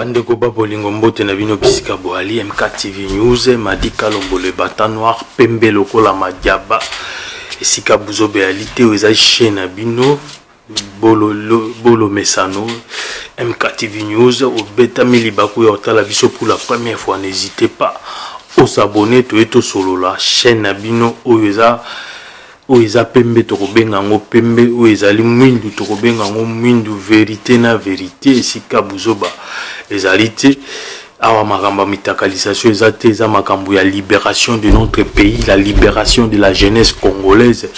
bandeko ba bolingo mbote na bino bisika boali mktv news madi kalombo le bata noir pembe lokola madiaba esika buzobe ya lite oyo ezali chaine na bino bololo bolo mesano mktv news obetami libaku ya otala biso pour la première fois n'hésitez pas osabone toye tosolola chaîne na bino oyo eza oyo eza pembe tokobenga yango pembe oyo ezali mwindu tokobenga yango mwindu verite na verite esika buzoba ezali te awa makambo ya mitakalisation eza te eza makambo ya liberation de notre pays la liberation de la jeunesse congolaise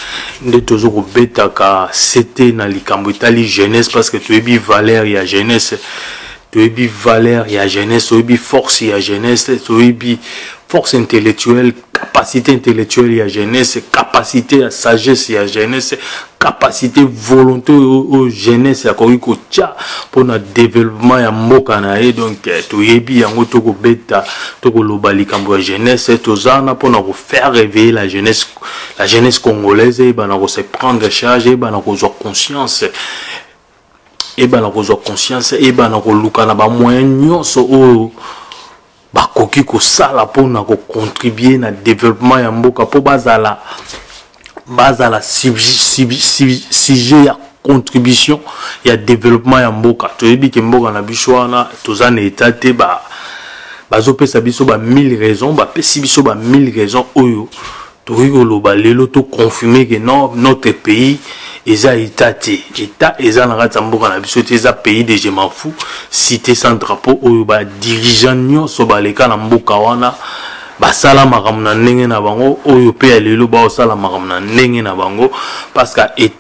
nde tozo kobetaka sete na likambo etali jeunesse parce que toyebi valeur ya jeunesse toyebi valeur ya jeunesse toyebi force ya jeunesse toyebi force intellectuelle capacité intellectuelle ya jeunesse capacité ya sagesse ya jeunesse capacité volonté oyo jeunesse akoki kotya mpona développement ya mboka na ye donc eh, toyebi yango tokobeta tokoloba likambo ya jeunesse eh, toza wana mpona kofaire réveiller la jeunesse la jeunesse congolaise eyebana eh, kose prendre charge eyebana kozwa conscience ebana kozwa conscience ebana koluka na bamoyen nyonso oyo bakoki kosala mpona kocontribue na développement ya mboka mpo bazala bazala sujet ya contribution ya développement ya mboka toyebi ke mboka na biso wana toza na etat te ba bazopesa biso ba 1000 raisons bapesi biso ba 1000 raisons oyo tokoki koloba lelo to confirme que non notre pays eza eta te eta eza na kati ya mboka na biso te eza pays de je m'en fous cité sans drapeau oyo badirigeant nyonso baleka na mboka wana basala makambo na ndenge na bango oyo mpe ya lelo baosala makambo na ndenge na bango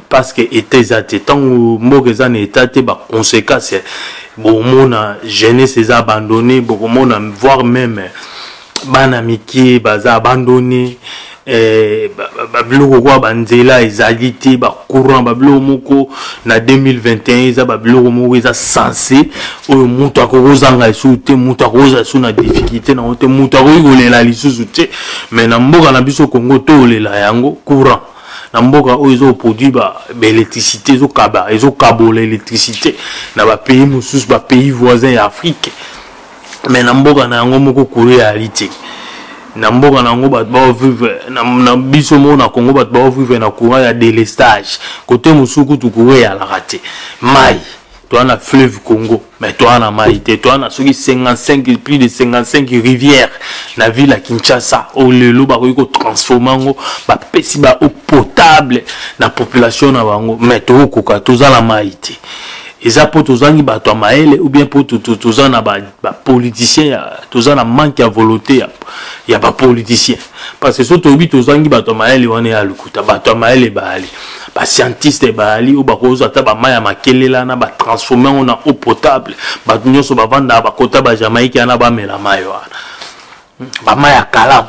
parceke eta eza te ntango mboka eza na eta te baconséquence bokomona jeunesse eza abandonne bokomona voire meme bana mike baza abandone eh, babiloko kwa banzela ezali te bacourant babiloko moko na 2021 eza babiloko moko eza sense oyo moto akoki kozanga lisusu te moto akokozala lisusu na difficulté nango te moto akoki kolela lisusu te mais na mboka na biso congo tolela yango courant na mboka oyo ezoproduit baélectricité ezokaba ezokabola électricité na bapays mosusu bapays voisin ya afrique me na mboka na yango moko kolo eyali te na mboka na yango bato baovivre na biso moko na congo bato baovivre na courant ya delestage kote mosusu kutu courant eyalaka te mai toa na fleuve congo me toa na mai te toa na soki 55 plus de 55 rivière na ville ya kinshasa oyo lelo bakoki kotransforme yango bapesi ba eau potable na population na bango me tokokoka toza na mai te eza mpo tozangi bato ya mayele ou bien mpo toza na bapoliticien ba toza na manque ya volonté ya, ya bapoliticien parce que so toyebi tozangi bato ya mayele wana ya lokuta bato ya mayele baali bascientiste baali oyo bakozwa ata bamai ya makelela na batransforme yango na eau potable bato nyonso bavandaka bakota bajamaïke wana bamela mai wana bamai ya kalamu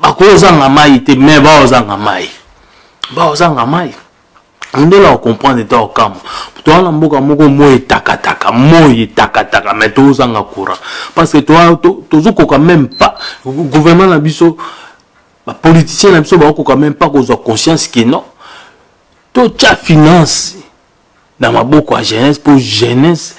bakozanga mai te me baozanga mai baozanga mai ondela okomprendre ta okamwa toa na mboka moko moi etakataka moi etakataka me tozanga courant parce que tozokoka même pas gouvernement na biso bapoliticien na biso bakokoka même pas kozwa conscience ke non totya finance na maboko ya jeunesse mpo jeunesse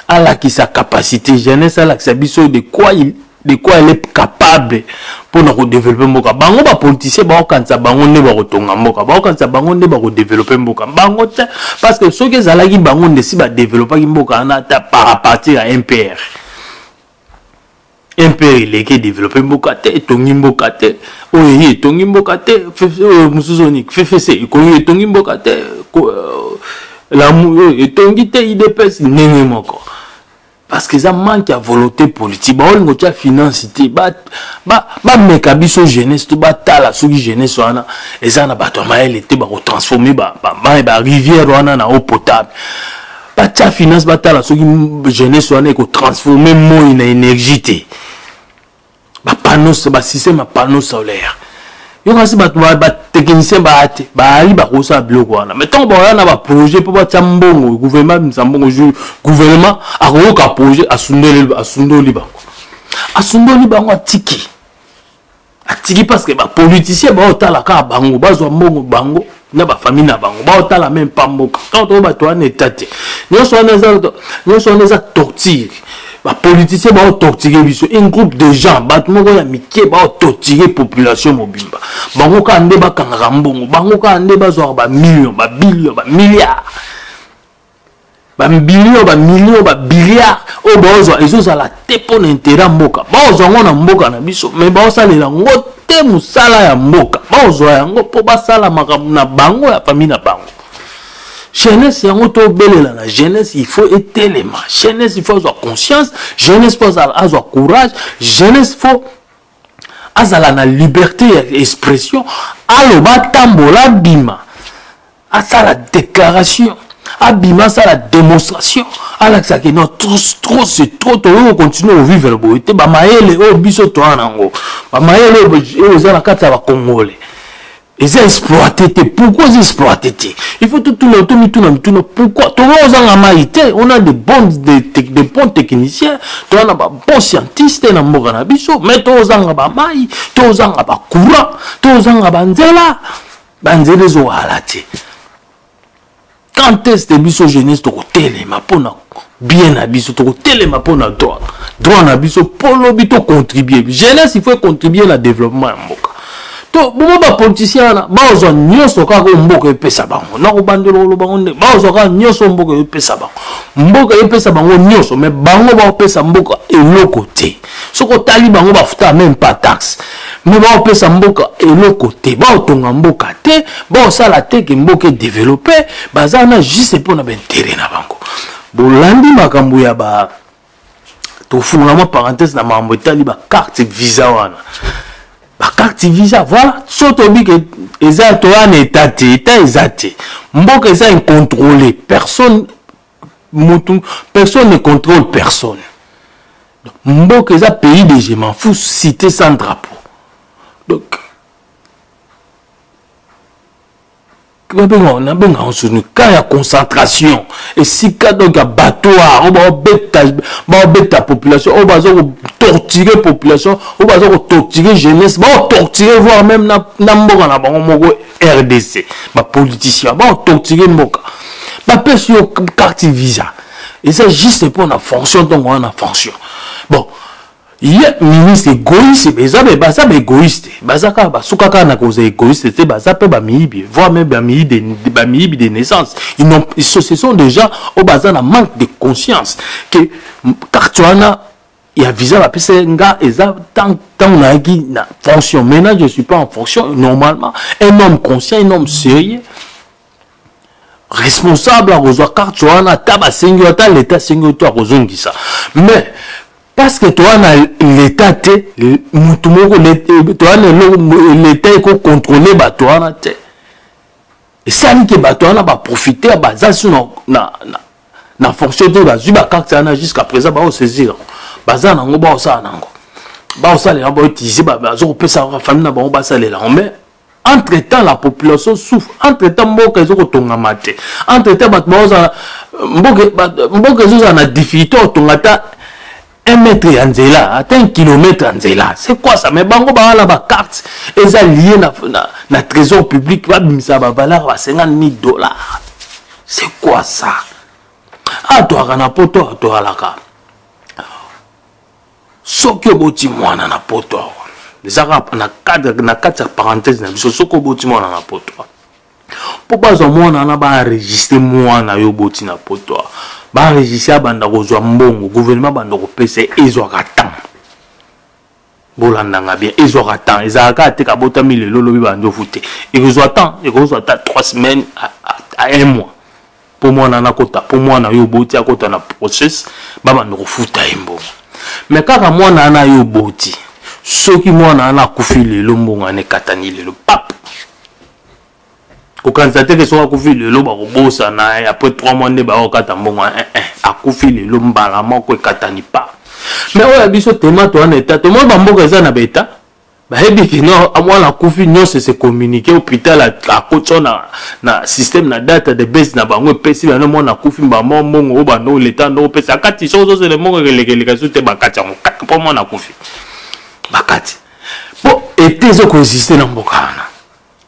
alakisa capacité jeunesse alakisa biso de quoi il, de quoi elle est capable mpo na kodevelope mboka bango bapoliticien bakokanisa bango nde bakotonga mboka bakokanisa bango nde bakodevelope mboka bango te parce que soki ezalaki bango nde si badevelopaki mboka wana ata par partir ya mpr mpr eleki edevelope mboka te etongi mboka te oyo eye etongi mboka te oyo mosusu oni ffc ekoyo etongi mboka te euh, lamu oyo euh, etongi te idps ndenge moko parce que eza manque ya volonté politique baolingo tya finance te bameka biso jeunesse to batala soki jeunesse wana eza na bato ya mayele te bakotransforme barivière wana na eau potable batya finance batala soki jeunesse wana ekotransforme moi na énergie te bapanos basystème ya panneau solaire yokasi bato batechnicien baya te bayali bakosala biloko wana mai ntango bakoya na baprojet mpo batya mbongo gouvernement abimisa mbongo jour gouvernement akoyoka projet asundoli bango asundoli bango atiki atiki parce que bapoliticien baotala kaka bango bazwa mbongo bango na bafamille na bango baotala meme pa mboka ntango toyo bato wana eta te nyonso wana eza nyonso wana eza torture bapoliticien baotorture biso un groupe de gens bato moko ya mike baotorture population mobimba bango kaka nde bakangaka mbongo bango kaka nde bazwaka bamillion babilion bamilliard bamilio bamilio babiliard oyo baozwa ezozala te mpo na intere ya mboka baozwa yango na mboka na biso mai baosalela yango te mosala ya mboka baozwa yango mpo basala makambo na bango ya fami na bango jeunesse yango tobelela na jeunesse il faut etelema jeunesse il faut azwa conscience jeunesse mpo azwa courage jeunesse faut azala na liberté ya expression aloba atambola abima asala déclaration abima asala démonstration alakisa ke non trop c'est trop tokoki kocontinue kovivre boye te bamayele oyo biso toa nango bamayele oyo eza na kati ya bakongole eza exploite te pourquoi eza exploite te il faut totuna tomituna mituna pourquoi tokoki kozanga mai te on a de bon de, de, de bon technicien toza na babon scientiste na mboka na biso mai tokozanga bamai tokozanga bacourant tokozanga banzela banzela ezowala te quand est ce biso jeunesse tokotelema mpo na bien na biso tokotelema mpo na droit droit na biso mpo lobi tocontribue jeunesse il faut econtribue na développement ya mboka to bomo bapolitisien wana bazwa nyonso kaka oyo mboka epesa bango nakobandela koloba ngo nde bazwa kaka nyonso oyo mboka epesa bango mboka epesa bango nyonso me bango baopesa mboka eloko te soki otali bango bafutaka meme pas taxe me baopesa mboka eloko te baotonga mboka te baosala te ke mboka edevelope baza wana juste mpo na baintere na bango bolandi makambo ya ba tofungola mwa parenthèse na makambo etali bacarte visa wana bacarte visa voilà so toyebi ke eza toya na eta te eta eza te mboka eza incontrôle personne mutu personne ne contrôle personne donc mboka eza pays de je m'en fous cité sans drapeau donc babenga nabenga yango soni cas ya concentration esika donc ya batoire oyo baobeta baobeta population oyo baza kotortire population oyo baza kotortire jeunesse baotortire voire même na, na mboka na bango moko rdc bapoliticien baotortire mboka bapesi yo carte visa eza juste mpo na fonction ntongo wana fonction bon ye ministre egoïste eza baza baegoïste baza kaka basuka kaka na kozala egoïste te baza mpe bamiyibi voire même bamiyibi de naissance ce sont des gens oyo baza na manque de conscience que carte wana ya visa bapesa nga eza ntango nayaki na fonction maintenant je suis pas en fonction normalement un homme conscient un homme sérieux responsable akozwa carte wana ata basengi yo ata leta asengi yo to akozongisa mais parce que toza na leta te motu moko toza na leta ekokontrole bato wana te esali ke bato wana baprofiter baza su na, na, na, na fonction te bazwi bakarte wana jusqu'à présent baosaisir yango baza na yango baosala na yango baosalela yango bautilize bazokopesa yango bafamille na bango basalela yango mais entre temps la population souffre entre temps mboka ezokotongama te entre temps bato baozala mboka ezozala na difficulté otonga ata un mètre ya nzela ata un kilomètre ya nzela c'est quoi ça mais bango baa na bacarte eza lie na, na, na trésor public babimisa bavaleur ba 50 000 dollars c'est quoi ça atwaka na poto atwalaka soki oboti mwana na poto awa ezaka na kati ya parenthèse na biso soki oboti mwana na poto awa mpo bazwa mwana wana baenregistre mwana yo oboti na poto awa baenregistre abanda kozwa mbongo gouvernement abanda kopesa ezwaka temps bolandanga bien ezwaka temps ezalaka te kabotami lelo lobi bandofu te ekozwa temps ekozwa ata 3 semaines à un mois mpo mwana wana akota mpo mwana yo oboti akota na process babanda kofuta ye mbongo me kaka mwana wana yo oboti soki mwana wana akufi lelo mbongo wana ekatani lelo pap kokanisa te ke soki akufi lelo bakobosana eh, après 3 mois nde bakokata mbongo wana eh, eh, akufi lelo mbala moko ekatani pa me oyo ya biso temato wana eta tomoni bamboka eza na baeta bayebi kino mwana akufi nyonso ese communiqué hôpital akotya na, na système na data de base na bango epesi bana mwana akufi mbamo mbongo oyo bando leta ndo opesa akati soki ozozela mbongo ekelekeleka so te bakati yango kaka mpo mwana akufi bakati mpo ete ezokoexiste na mboka wana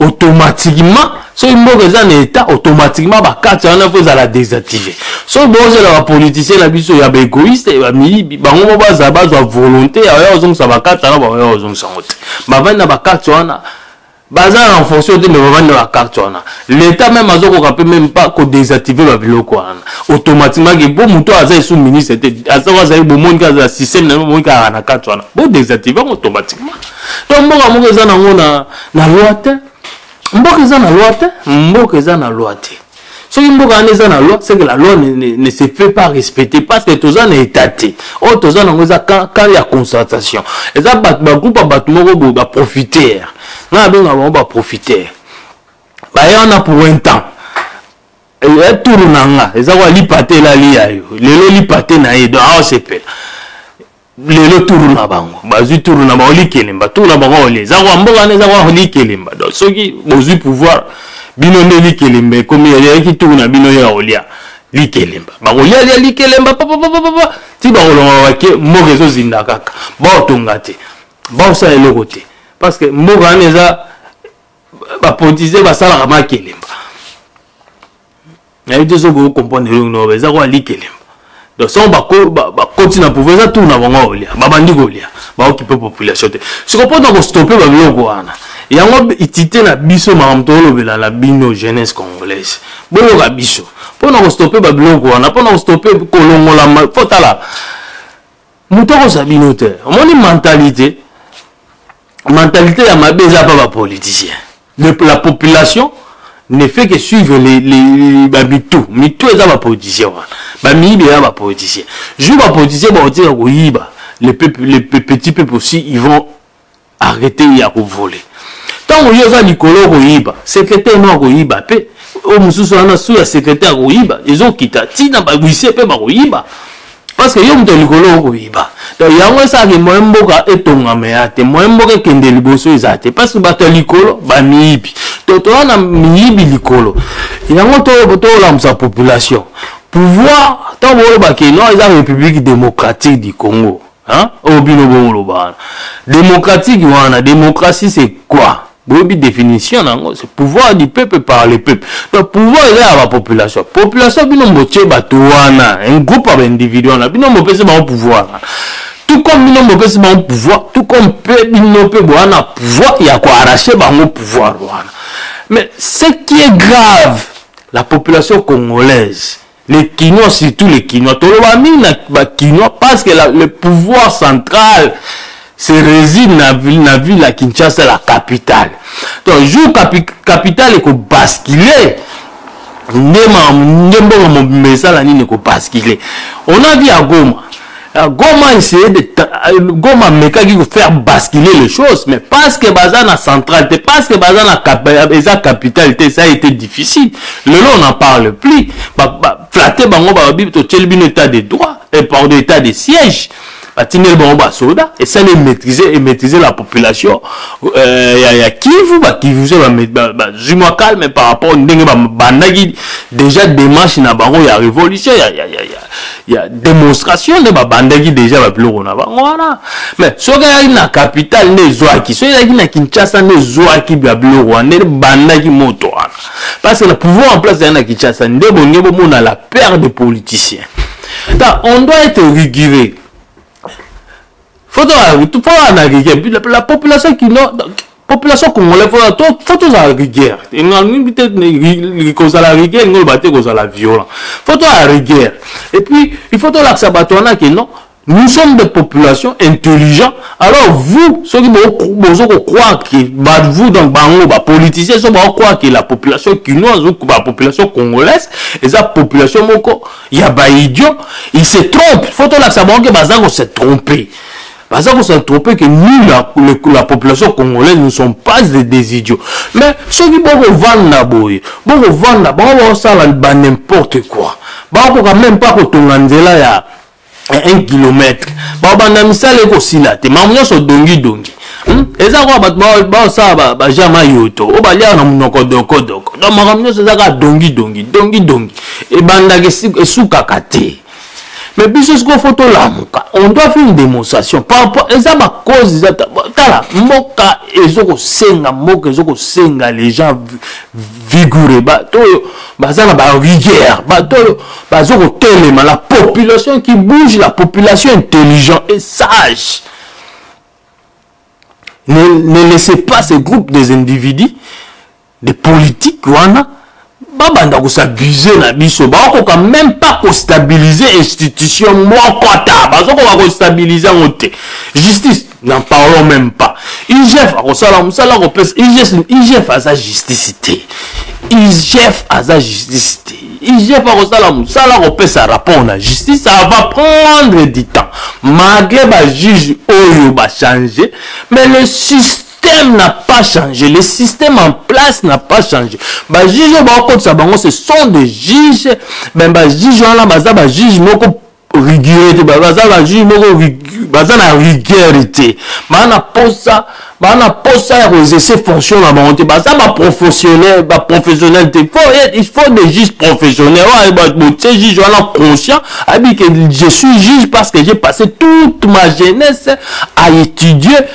automatiquement soki mboka eza na etat automatiquement bakati wana mpo ezala désactive soki bozela bapoliticien na biso ya baegoïste bamiyibi bango mo bazala bazwa volonté ya oya kozongisa bakati wana baoya kozongisa yango te bavandi na bakati wana baza na fonction te me bavandi na bakarte wana l'état meme azokoka mpe meme pas kodésactive babiloko wana automatiquement ke mpo moto aza esu ministre te azoko azali bomoni kaka azala système na bomoni kaka na karte wana bodésactive yango automatiquement to mboka moko eza nango na, na loi te mboka eza na loi te mboka eza na loi te soki mboka wana eza na loi c'est que la loi ne, ne, ne se fait pas respecter parce que toza na état te oyo toza nango eza camp ya constatation eza bato bagroupe ya bato moko boye baprofiter nga nabengaka bango baprofiter baye wana pour un temps ya turu na nga eza kwa lipa te elali ya yo lelo lipa te na ye donc aosepela lelo turu na bango bazwi turu na bango likelemba turu na bango ole eza kwa mboka nde eza kwa likelemba donc soki bozwi pouvoir bino nde likelemba ekomi eyaki turu na bino ya kolia likelemba bakolia lia likelemba papapapapa ti bakolonga bake mboka ezozinda kaka baotonga te baosala eloko te parce que mboka wana eza bapolitisien basalaka makelemba nayebi te soki okomprendre elongi noba eza kwa likelemba donc sango bakoti na pouvoir eza tour na bango kolia babandi kolia baokipe population te siko mpo na kostope babiloko wana yango itite na biso makambo tolobela na bino jeunesse congolaise boyoka biso mpo na kostope babiloko wana mpo na kostope kolongolama mpo tala moto akozwa bino te omoni mentalité mentalité ya mabe eza pa bapoliticien la population ne fait que suivre bamitu mitu eza bapoliticien wana bamiyibi eza bapoliticien jour bapoliticien bakotika koyiba le, peuple, le petit peuple aussi ils vont arrete ye ya kovole ntango yo oza likolo okoyiba sekretare no akoyiba mpe oyo mosusu wana su ya sekretare akoyiba ezokita ntina baguisie mpe bakoyiba parceke yo moto ya likolo okoyiba donc yango esalaki moye mboka etongama ya te moye mboka ekende liboso eza te parce bato ya likolo bamiyibi to toza na miyibi likolo yango tolamusa population pouvoir ntango boyebaki no eza république démocratique du congo Hein? Oh bino bongo loba wana. Démocratique wana, démocratie c'est quoi? boyebi définition na yango c'est pouvoir du peuple par le peuple donc pouvoir eza ya bapopulation population bino botie bato wana un groupe ya baindividu wana bino bopesi bango pouvoir wana tout comme bino bopesi bango pouvoir tout comme mpe bino mpe boya na pouvoir ya koarrache bango pouvoir wana mais ce qui est grave la population congolaise les Kinois, surtout les Kinois. Tolobami ba Kinois parce que la, le pouvoir central se réside na ville, na ville à Kinshasa, la capitale. Donc, jour capi, capitale est basculer, nde mbongo mobimba esala nini ekobascule on a dit ya goma Ah, Goma essayait de ah, Goma mekaki ko faire basculer les choses mais parce que baza na centrale te parce que baza na cap eza capitale te ça a été difficile lelo on n'en parle plus ba, ba flatter bango ba bibi to tieli bino état de droit et par de état de siège batindeli bango basoda esali emaîtrise emaîtrise la population euh, ya, ya kivu bakivu so bazwi mwa calme par rapport ndenge babandaki déjà démarche na bango ya révolution ya, ya, ya, ya, ya demonstration nde babandaki deja babiloko na bango wana mais soki ayaki na capital nde ezwaki soki ezalaki na kinshasa nde ezwaki babiloko wana nde bandaki moto wana parce que na pouvoir en place ezali na kinshasa nde bolingi bomona la père de politicien ta on doit être rigoureux faut toana rigoureux la population kino population congolais fo tozala rigueur kozala rigueur elingi oloba te kozala violent fo tozala rigueur et puis il faut tolakisa bato wana ke non nous sommes des populations intelligents alors vous soki bozo kokroire ke vous donc bango bapoliticien so bakokroire ke la population kinoise ou bapopulation congolaise eza population moko ya baidiot il se trompe fo tolakisa bango ke baza kose trompe baza kosantrope ke nous la, le, la population congolaise nous sommes pas des, des idiots mais soki bokovanda boye bokovanda bango bakosala ba n'importe quoi bakokoka même pas kotonga nzela ya 1 kilomètre babanda misala ekosila te mamu nyonso dongidongi hmm? eza kaka bato baosala bajama yoto oyo baliaka na monoko dokodoko donc makambo nyonso eza kaka dongidongi dongidongi ebandaka esukaka te mais biso sikoyo fo tolamuka on doit faire une démonstration par rapport eza bacause eza tala mboka ezokosenga mboka ezokosenga les gens vigoureux bato oyo baza na barigueur bato oyo bazokotelema la population qui bouge la population intelligent et sage ne, ne laissez pas ces groupes des individus de politique wana babanda kosabuse na biso bakokoka même pas kostabilize institution moko ata bazokoka kostabilize yango te justice n'en parlons même pas igf akosala mosala akopesa igf aza justice te igf aza justice te igf akosala mosala akopesa rapport na justice ça va prendre du temps malgré bajuge oyo bachange mais le système système n'a pas changé le système en place n'a pas changé bajuge oyo bakotisa bango ce sont des juges ben bajuge wana baza bajuge moko rigueur te baza bajuge moko baza na rigueur te baa na posa baa na posa ya koexerce fonction na bango te baza baprofessionnel baprofessionnel te il faut des juges professionnel oyo botie juge wana conscient abi ke je suis juge parce que j'ai passé toute ma jeunesse à étudier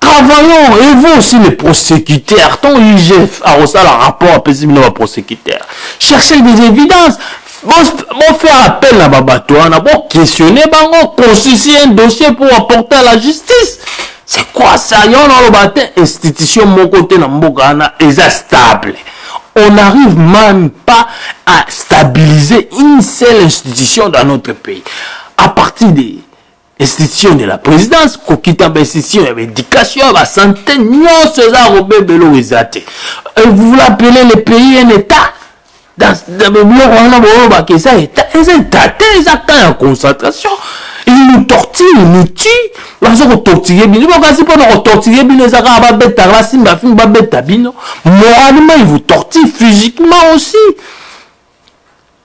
travaillons et vous aussi les prosécuteurs ton igf akosala rapport apesi bino baprosécuteur cherchez des évidences bofaire appel na babato wana boquestionne bango constitue un dossier pour apporter à la justice c'est quoi ça yo na oloba te institution moko te na mboka wana eza stable on n'arrive même pas à stabiliser une seule institution dans notre pays à partir de institution de la présidence kokita bainstitution ya baéducation ya basante nyonso eza ya kobeba eloko eza te vous vous appelez le pays un état biloko wana boyobaka eza état eza état te eza temps ya concentration il nous tortille nous tue baza kotortille bino bokasi mpona kotortille bino eza kaka babetaka basimba fimbi babeta bino moralement il vous tortille physiquement aussi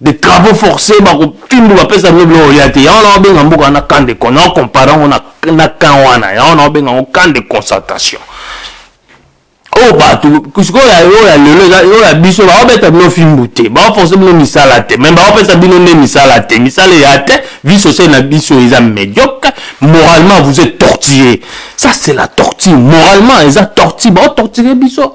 de travaux forcés bakofindu bapesa yango biloko olia te yango na obenga mboka wana camp de con nao compare yango na camp wana yango na obenga yango camp de concentration oyo bato sikoyo oyo ya lelo oyo ya biso baobeta bino fimbu te baoforce bino misala te me baopesa bino nde misala te misala eya te vie sociale na biso eza médiocre moralement vous êtes tortillé ça c'est la tortille moralement eza tortille baotortire biso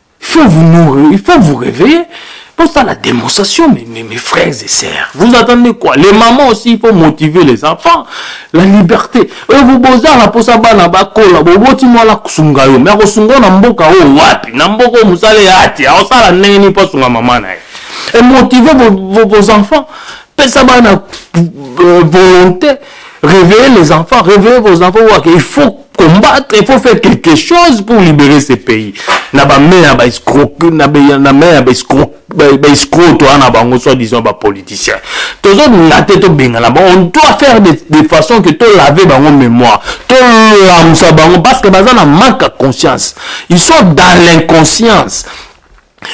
faut vous nourrir, il faut vous réveiller. Pour ça, la démonstration, mes, mes, mes, frères et sœurs. Vous attendez quoi Les mamans aussi, il faut motiver les enfants. La liberté. Et vous bozar la posa bana bakola, boboti moi la kusunga yo. Mais kusunga na mboka o oh, wapi? Na mboka musale ati, a osala neni pa sunga maman na. Et motiver vos, vos, vos enfants. Pesa bana euh, volonté. Réveillez les enfants, réveillez vos enfants. Il faut combattre, il faut faire quelque chose pour libérer ce pays. Na ba mère ba escroc, na ba na mère ba escroc, ba escroc toi na bango soit disant ba politicien. Tous autres na tête au bengala. On doit faire de, de façon que tout laver bango mémoire, tout l'amsa bango parce que bazana manque de conscience. Ils sont dans l'inconscience.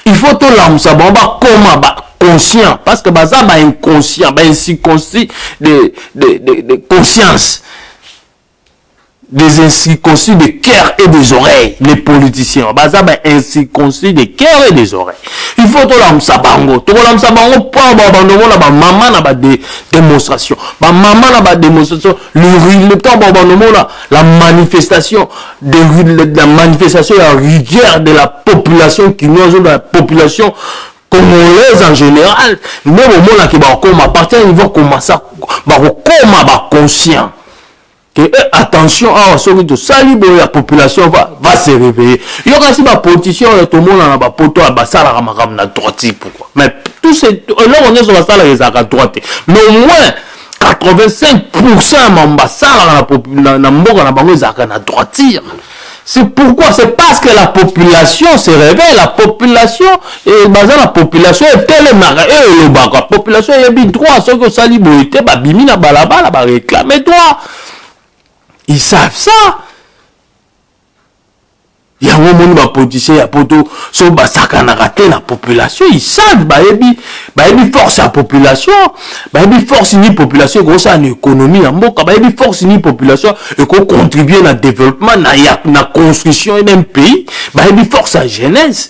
il faut tolamusa bango bakoma ba conscient parce que baza ba inconscient ba incirconcis de, de, de, de conscience des incirconcis de cœur et des oreilles les politiciens baza ba incirconcis de cœur et des oreilles il faut tolamusa bango tokolamusa bango mpo babanda omona bamama na badémonstration bamama na badémonstration ntango babanda omona la manifestation de la manifestation ya rigueur de la population kinoise de la population congolaise en général nde bomonaki bakokoma partir ya niveau komasa bakokoma baconscient ke eh, attention awa soki tosali boye ya population va, va se réveiller yo kasi bapoliticien oyo tomonana bapoto oyo basalaka makambo na droiti pourquoi mais tout eloko nyonso basalaka ezalaka droite mais au moins 85 pourcent ya mambo basalaka na mboka na bango ezalaka na droitire C'est pourquoi C'est parce que la population se réveille. La population, et baza la population est tellement et le bac. La population est bien droit. Ceux qui sali boité, bah bimi na balaba, la bah réclame droit. Ils savent ça. yango omoni bapoliticien ya poto so basakanaka te na population isave bayebi bayebi force ya population bayebi force ni population ekosala na économie ya mboka bayebi force ni population ekocontribue na développement na, ya, na construction d'un pays bayebi force ya jeunesse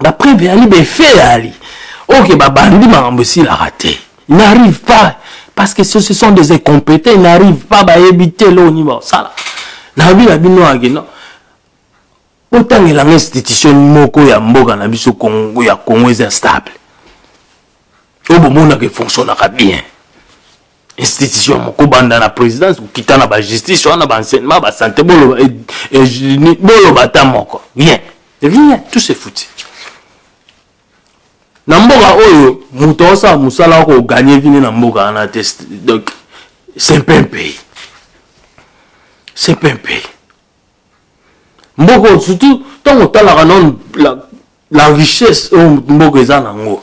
bapreve eyali baefe eyali oke babandi makambo esilaka te il n'arrive pas parce que ce sont des incompétents il n'arrive pas bayebi te eloko nini bakosala nayebi na bino yaki no botangelanga institution moko ya mboka na biso congo ya congo eza stable oyo bomonaka efonctionnaka bien institution moko kobanda na présidence kokita na bajustice wana baenseignement basante boloba eh, eh, boloba ata moko rien rien tout se fouti na mboka oyo moto aosala mosala wa koganye vine na mboka wana te donc c'est mpe un pays c'est mpe un pays mboka oyo surtout ntango otalaka nano la, la richesse oyo mboka eza nango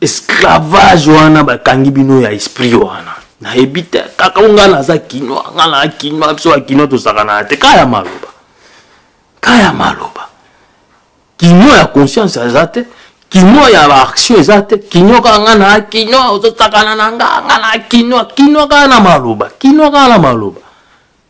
esclavage wana bakangi bino ya esprit wana nayebi te kaka o ngai naza kinois ngai naa kinois biso bakinois tosakanaka te kaya maloba kaya maloba kinois ya conscience aza te kinois ya baaction eza te kinois kaka ngai naa kinois ozosakana na ngai ngai naa kinois kinois kaka na maloba kinois kaka na maloba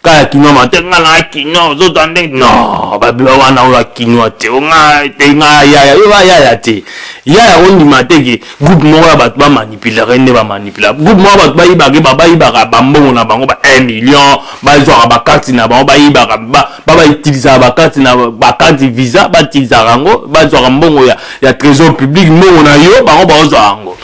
kaya kinois mate nga na kinois ozota nde no babila wana oyo akinois te onga te nga yaya yo ba yaya te yaya ondima te ke groupe moko ya bato bamanipulaka nde bamanipula groupe moko ya bato bayibaka ba bayibaka bambongo na bango ba 1 million bazwaka bakarte na bango bayibaka babautilisaka bakarte na bakarte visa batilisaka yango bazwaka mbongo ya, ya trésor public mbongo na yo bango baozwa yango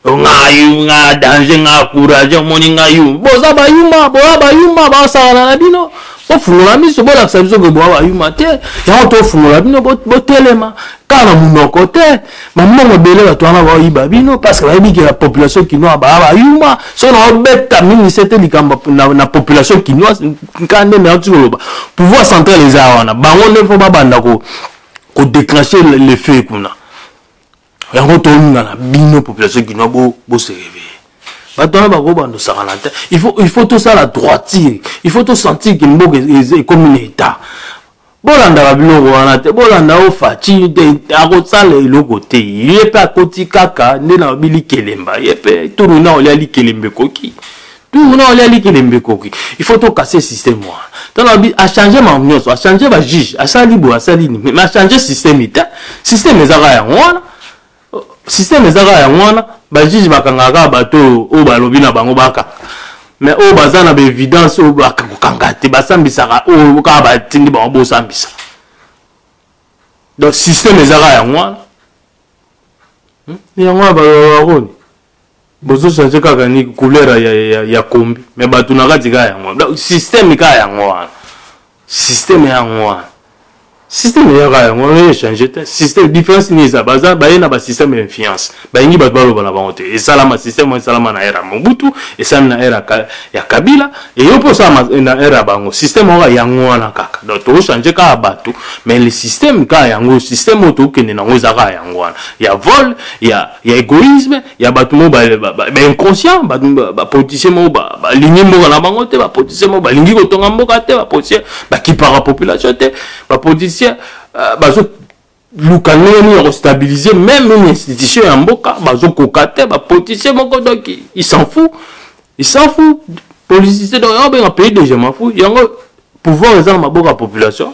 nga yu nga danger nga courage omoni nga yu boza bayuma boya bayuma basakana na bino bofungola miso bolakisa biso ke boya bayuma te yango tofungola bino botelema kaka na monoko te bambongo ebele bato wana baoyiba bino parceke bayebi ke na population kinoise baa bayuma soki naobeta mingi se te likambo na population kinoise nka nde nayoki koloba pouvoir central eza wana bango nde mpo babanda kodeclenche le feu kuna yango toluna na bino population kinois bose réveille bato wana bakobanda osakana te il faut tosala droitire il faut tosentir ke mboka ekomi na état bolandaka biloko wana te bolanda o faci te akosala eloko te ye mpe akoti kaka nde na bili kelemba ye mpe turu na olia likelemba ekoki tour na olia likelembe ekoki il faut tokase système wana tolobi achange mambo nyonso achange bajuge asali boye asali nini mais achange système te système ezaka yango wana système ezaka yango wana bajuge bakangaka kaka bato oyo oyo balobi na bango bakanga mais oyo baza na baevidence oyo bakokanga te basambisaka oyo kaka batindi bango bosambisa donc système ezaka yango wana hmm? yango wana balobakoni bozo change kaka ni couleur ya, ya, ya kombi me bato na kati kaka yango wana systeme kaka yango wana systeme yango wana systeme eya kaka yango wana echange te systeme différence nini eza baza baye na basysteme ya influence balingi bato baloba na bango te esalama systeme esalama na ere ya mobutu esalami na ere ya kabila eyo mpe osalama na ere ya bango systeme oka yango wana kaka donc tokochange kaka bato mais le systeme kaka yango systeme oyo tokokende na yango eza kaka yango wana ya vol ya ya egoïsme ya bato moko bainconscient bapoliticien moko balingi mboka na bango te bapoliticien moko balingi kotonga mboka te bapoliticien bakipaka population te bapoliticien euh, bazoluka ndenge nini ya kostabilize meme une institution ya mboka bazokoka te bapoliticien moko donc il s'en fou il s'en fou politicien donc yango benga pays de je m'en fou yango pouvoir eza na maboko ya population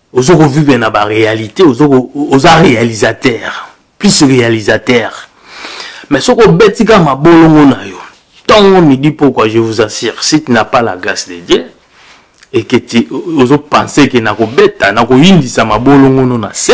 ozo ko vivre na ba réalité ozo oza réalisateur plus réalisateur mais soki obeti kaka mabolongo na yo ntongo midi pourquoi je vous assure si tu n'as pas la grâce de Dieu et que tu ozo penser que nakobeta nakoyindisa mabolongo no na se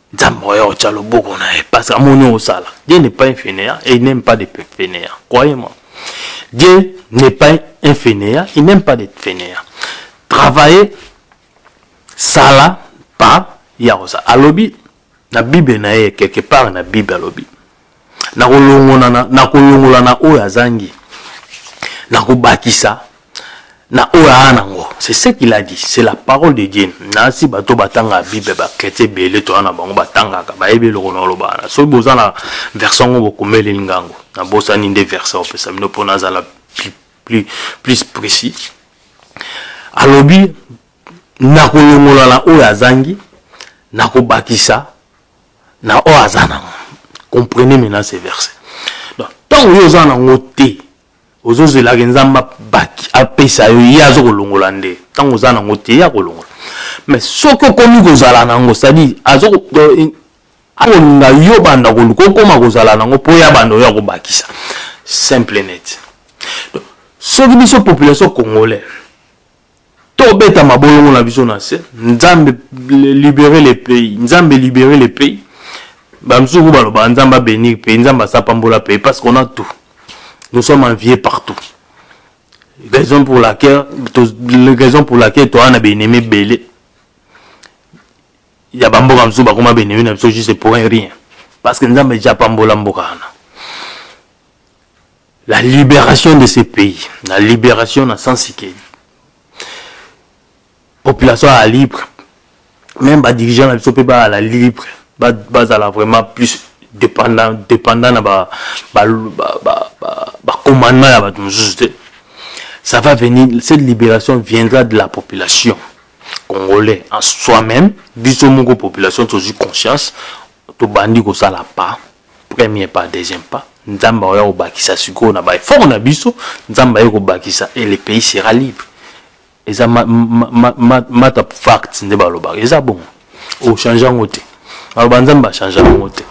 nzambe oya otya loboko na ye parce que amoni osala dieu n'est pas infénéa et il n'aime pas de fénéa croyez moi dieu n'est pas infénéa il n'aime pas de fénéa travailler sala pa ya kosala alobi na bible na ye quelque part na bible alobi nakolongola na oyo azangi nakobakisa na oyo aa nango c'est ce qu'il a dit c'est la parole de dieu nasi bato batanga bible bakretie ebele toya na bango batangaka bayebi eloko na olobana soki boza na verse yango bokomeleli ngango nabosani nde verse opesa bino mpo nazala plus, plus, plus précis alobi nakolongola na oyo azangi nakobakisa na oyo aza nango comprenez maintenant ce verset donc ntango yo oza nango te ozozelaka nzambe abaki apesa yo ye azokolongola nde ntango oza nango te ye akolongola mais soki okomi kozala nango cestadire akolinga yo banda koluka okoma kozala nango mpo ya banda oyo akobakisa simple net soki biso population congolais tobeta mabolongo na biso na se nzambe libere le pays nzambe libere le pays bamosusu ko balobaka nzambe abenir pays nzambe asapambola pays parce qu'on a tout nous sommes enviés partout raison pour laquelle raison pour laquelle toa na benemi ebele ya bamboka mosusu bakoma benemi na biso juste pour un rien parce que nzambe eja apambola mboka wana la liberation de ce pays la liberation na sensi ke population ya libre même badirigeant na biso mpe bazala libre bazala vraiment plus dépendant dépendant na bacommandement ya bato mosusu te ça va venir cette libération viendra de la population congolais en soi-même biso moko population tozwi conscience tobandi kosala pas premier pas deuxième pas nzambe akoya kobakisa sikoyo na baeffort na biso nzambe aye kobakisa et le pays sera libre eza mata fact nde balobaka eza bongo ochange yango te aloba nzambe achange yango te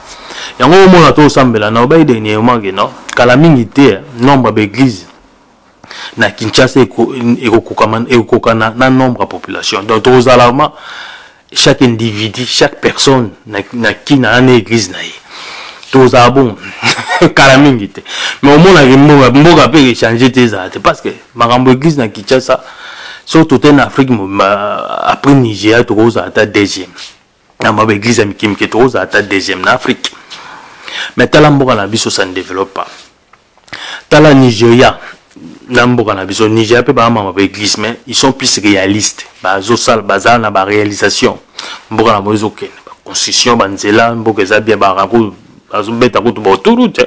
yango omona to osambela na obai dernièrement ke no kala mingi te nombre baeglise na kinshasa ekokokana na nombre ya population donc tokozala ma chaque individu chaque personne na, na kina na na église na ye tozala bongo kala mingi te mais omonaki mboka mboka mpe echange te ezala te parce que makambo église na kinshasa soki tote na afrique mobimba après nigeria tokozala ata deuxième na mwa baeglize ya mike mike tokozala ata deuxième na afrique mais tala mboka na biso ça ne développe pas tala nigeria na mboka na biso nigeria mpe baamama baeglise mais ils sont plus réalistes bazosala bazala na baréalisation mboka na bango ezokende baconstitution banzela mboka eza bien barango bazobeta kutu baoturu te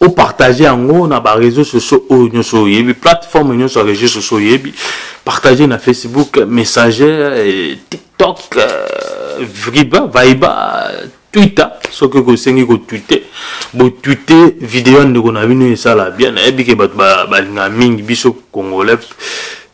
opartage yango na bareseau sociaux oyo nyonso oyebi plateforme nyonso ya reseau sociaux oyebi partage na facebook messager eh, tiktok eh, vriba vaiba twitter soki okosengi kotwite botwite video ya ndeko na bino esala bien nayebi ke bato balingaka mingi biso congolais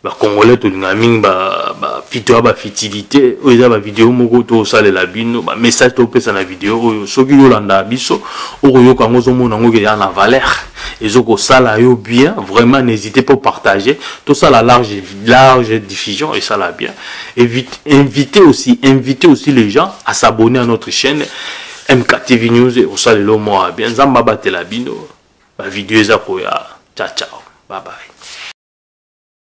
bacongolais tolingaka mingi bapito ya bafitilité oyo eza bavideo moko tosalela bino bamessage topesa na video oyo soki yolandaka biso okoyoka yango ozomona yango keya na valeur ezokosala yo bien vraiment n'hésite po partager tosala large, large diffusion esala bien Évite, invite aussi invite aussi les gens à s'abonner à notre chaîne mktv news ekosalela yo moa bien nzambe abatela bino bavideo eza koya ciao ciao bye bye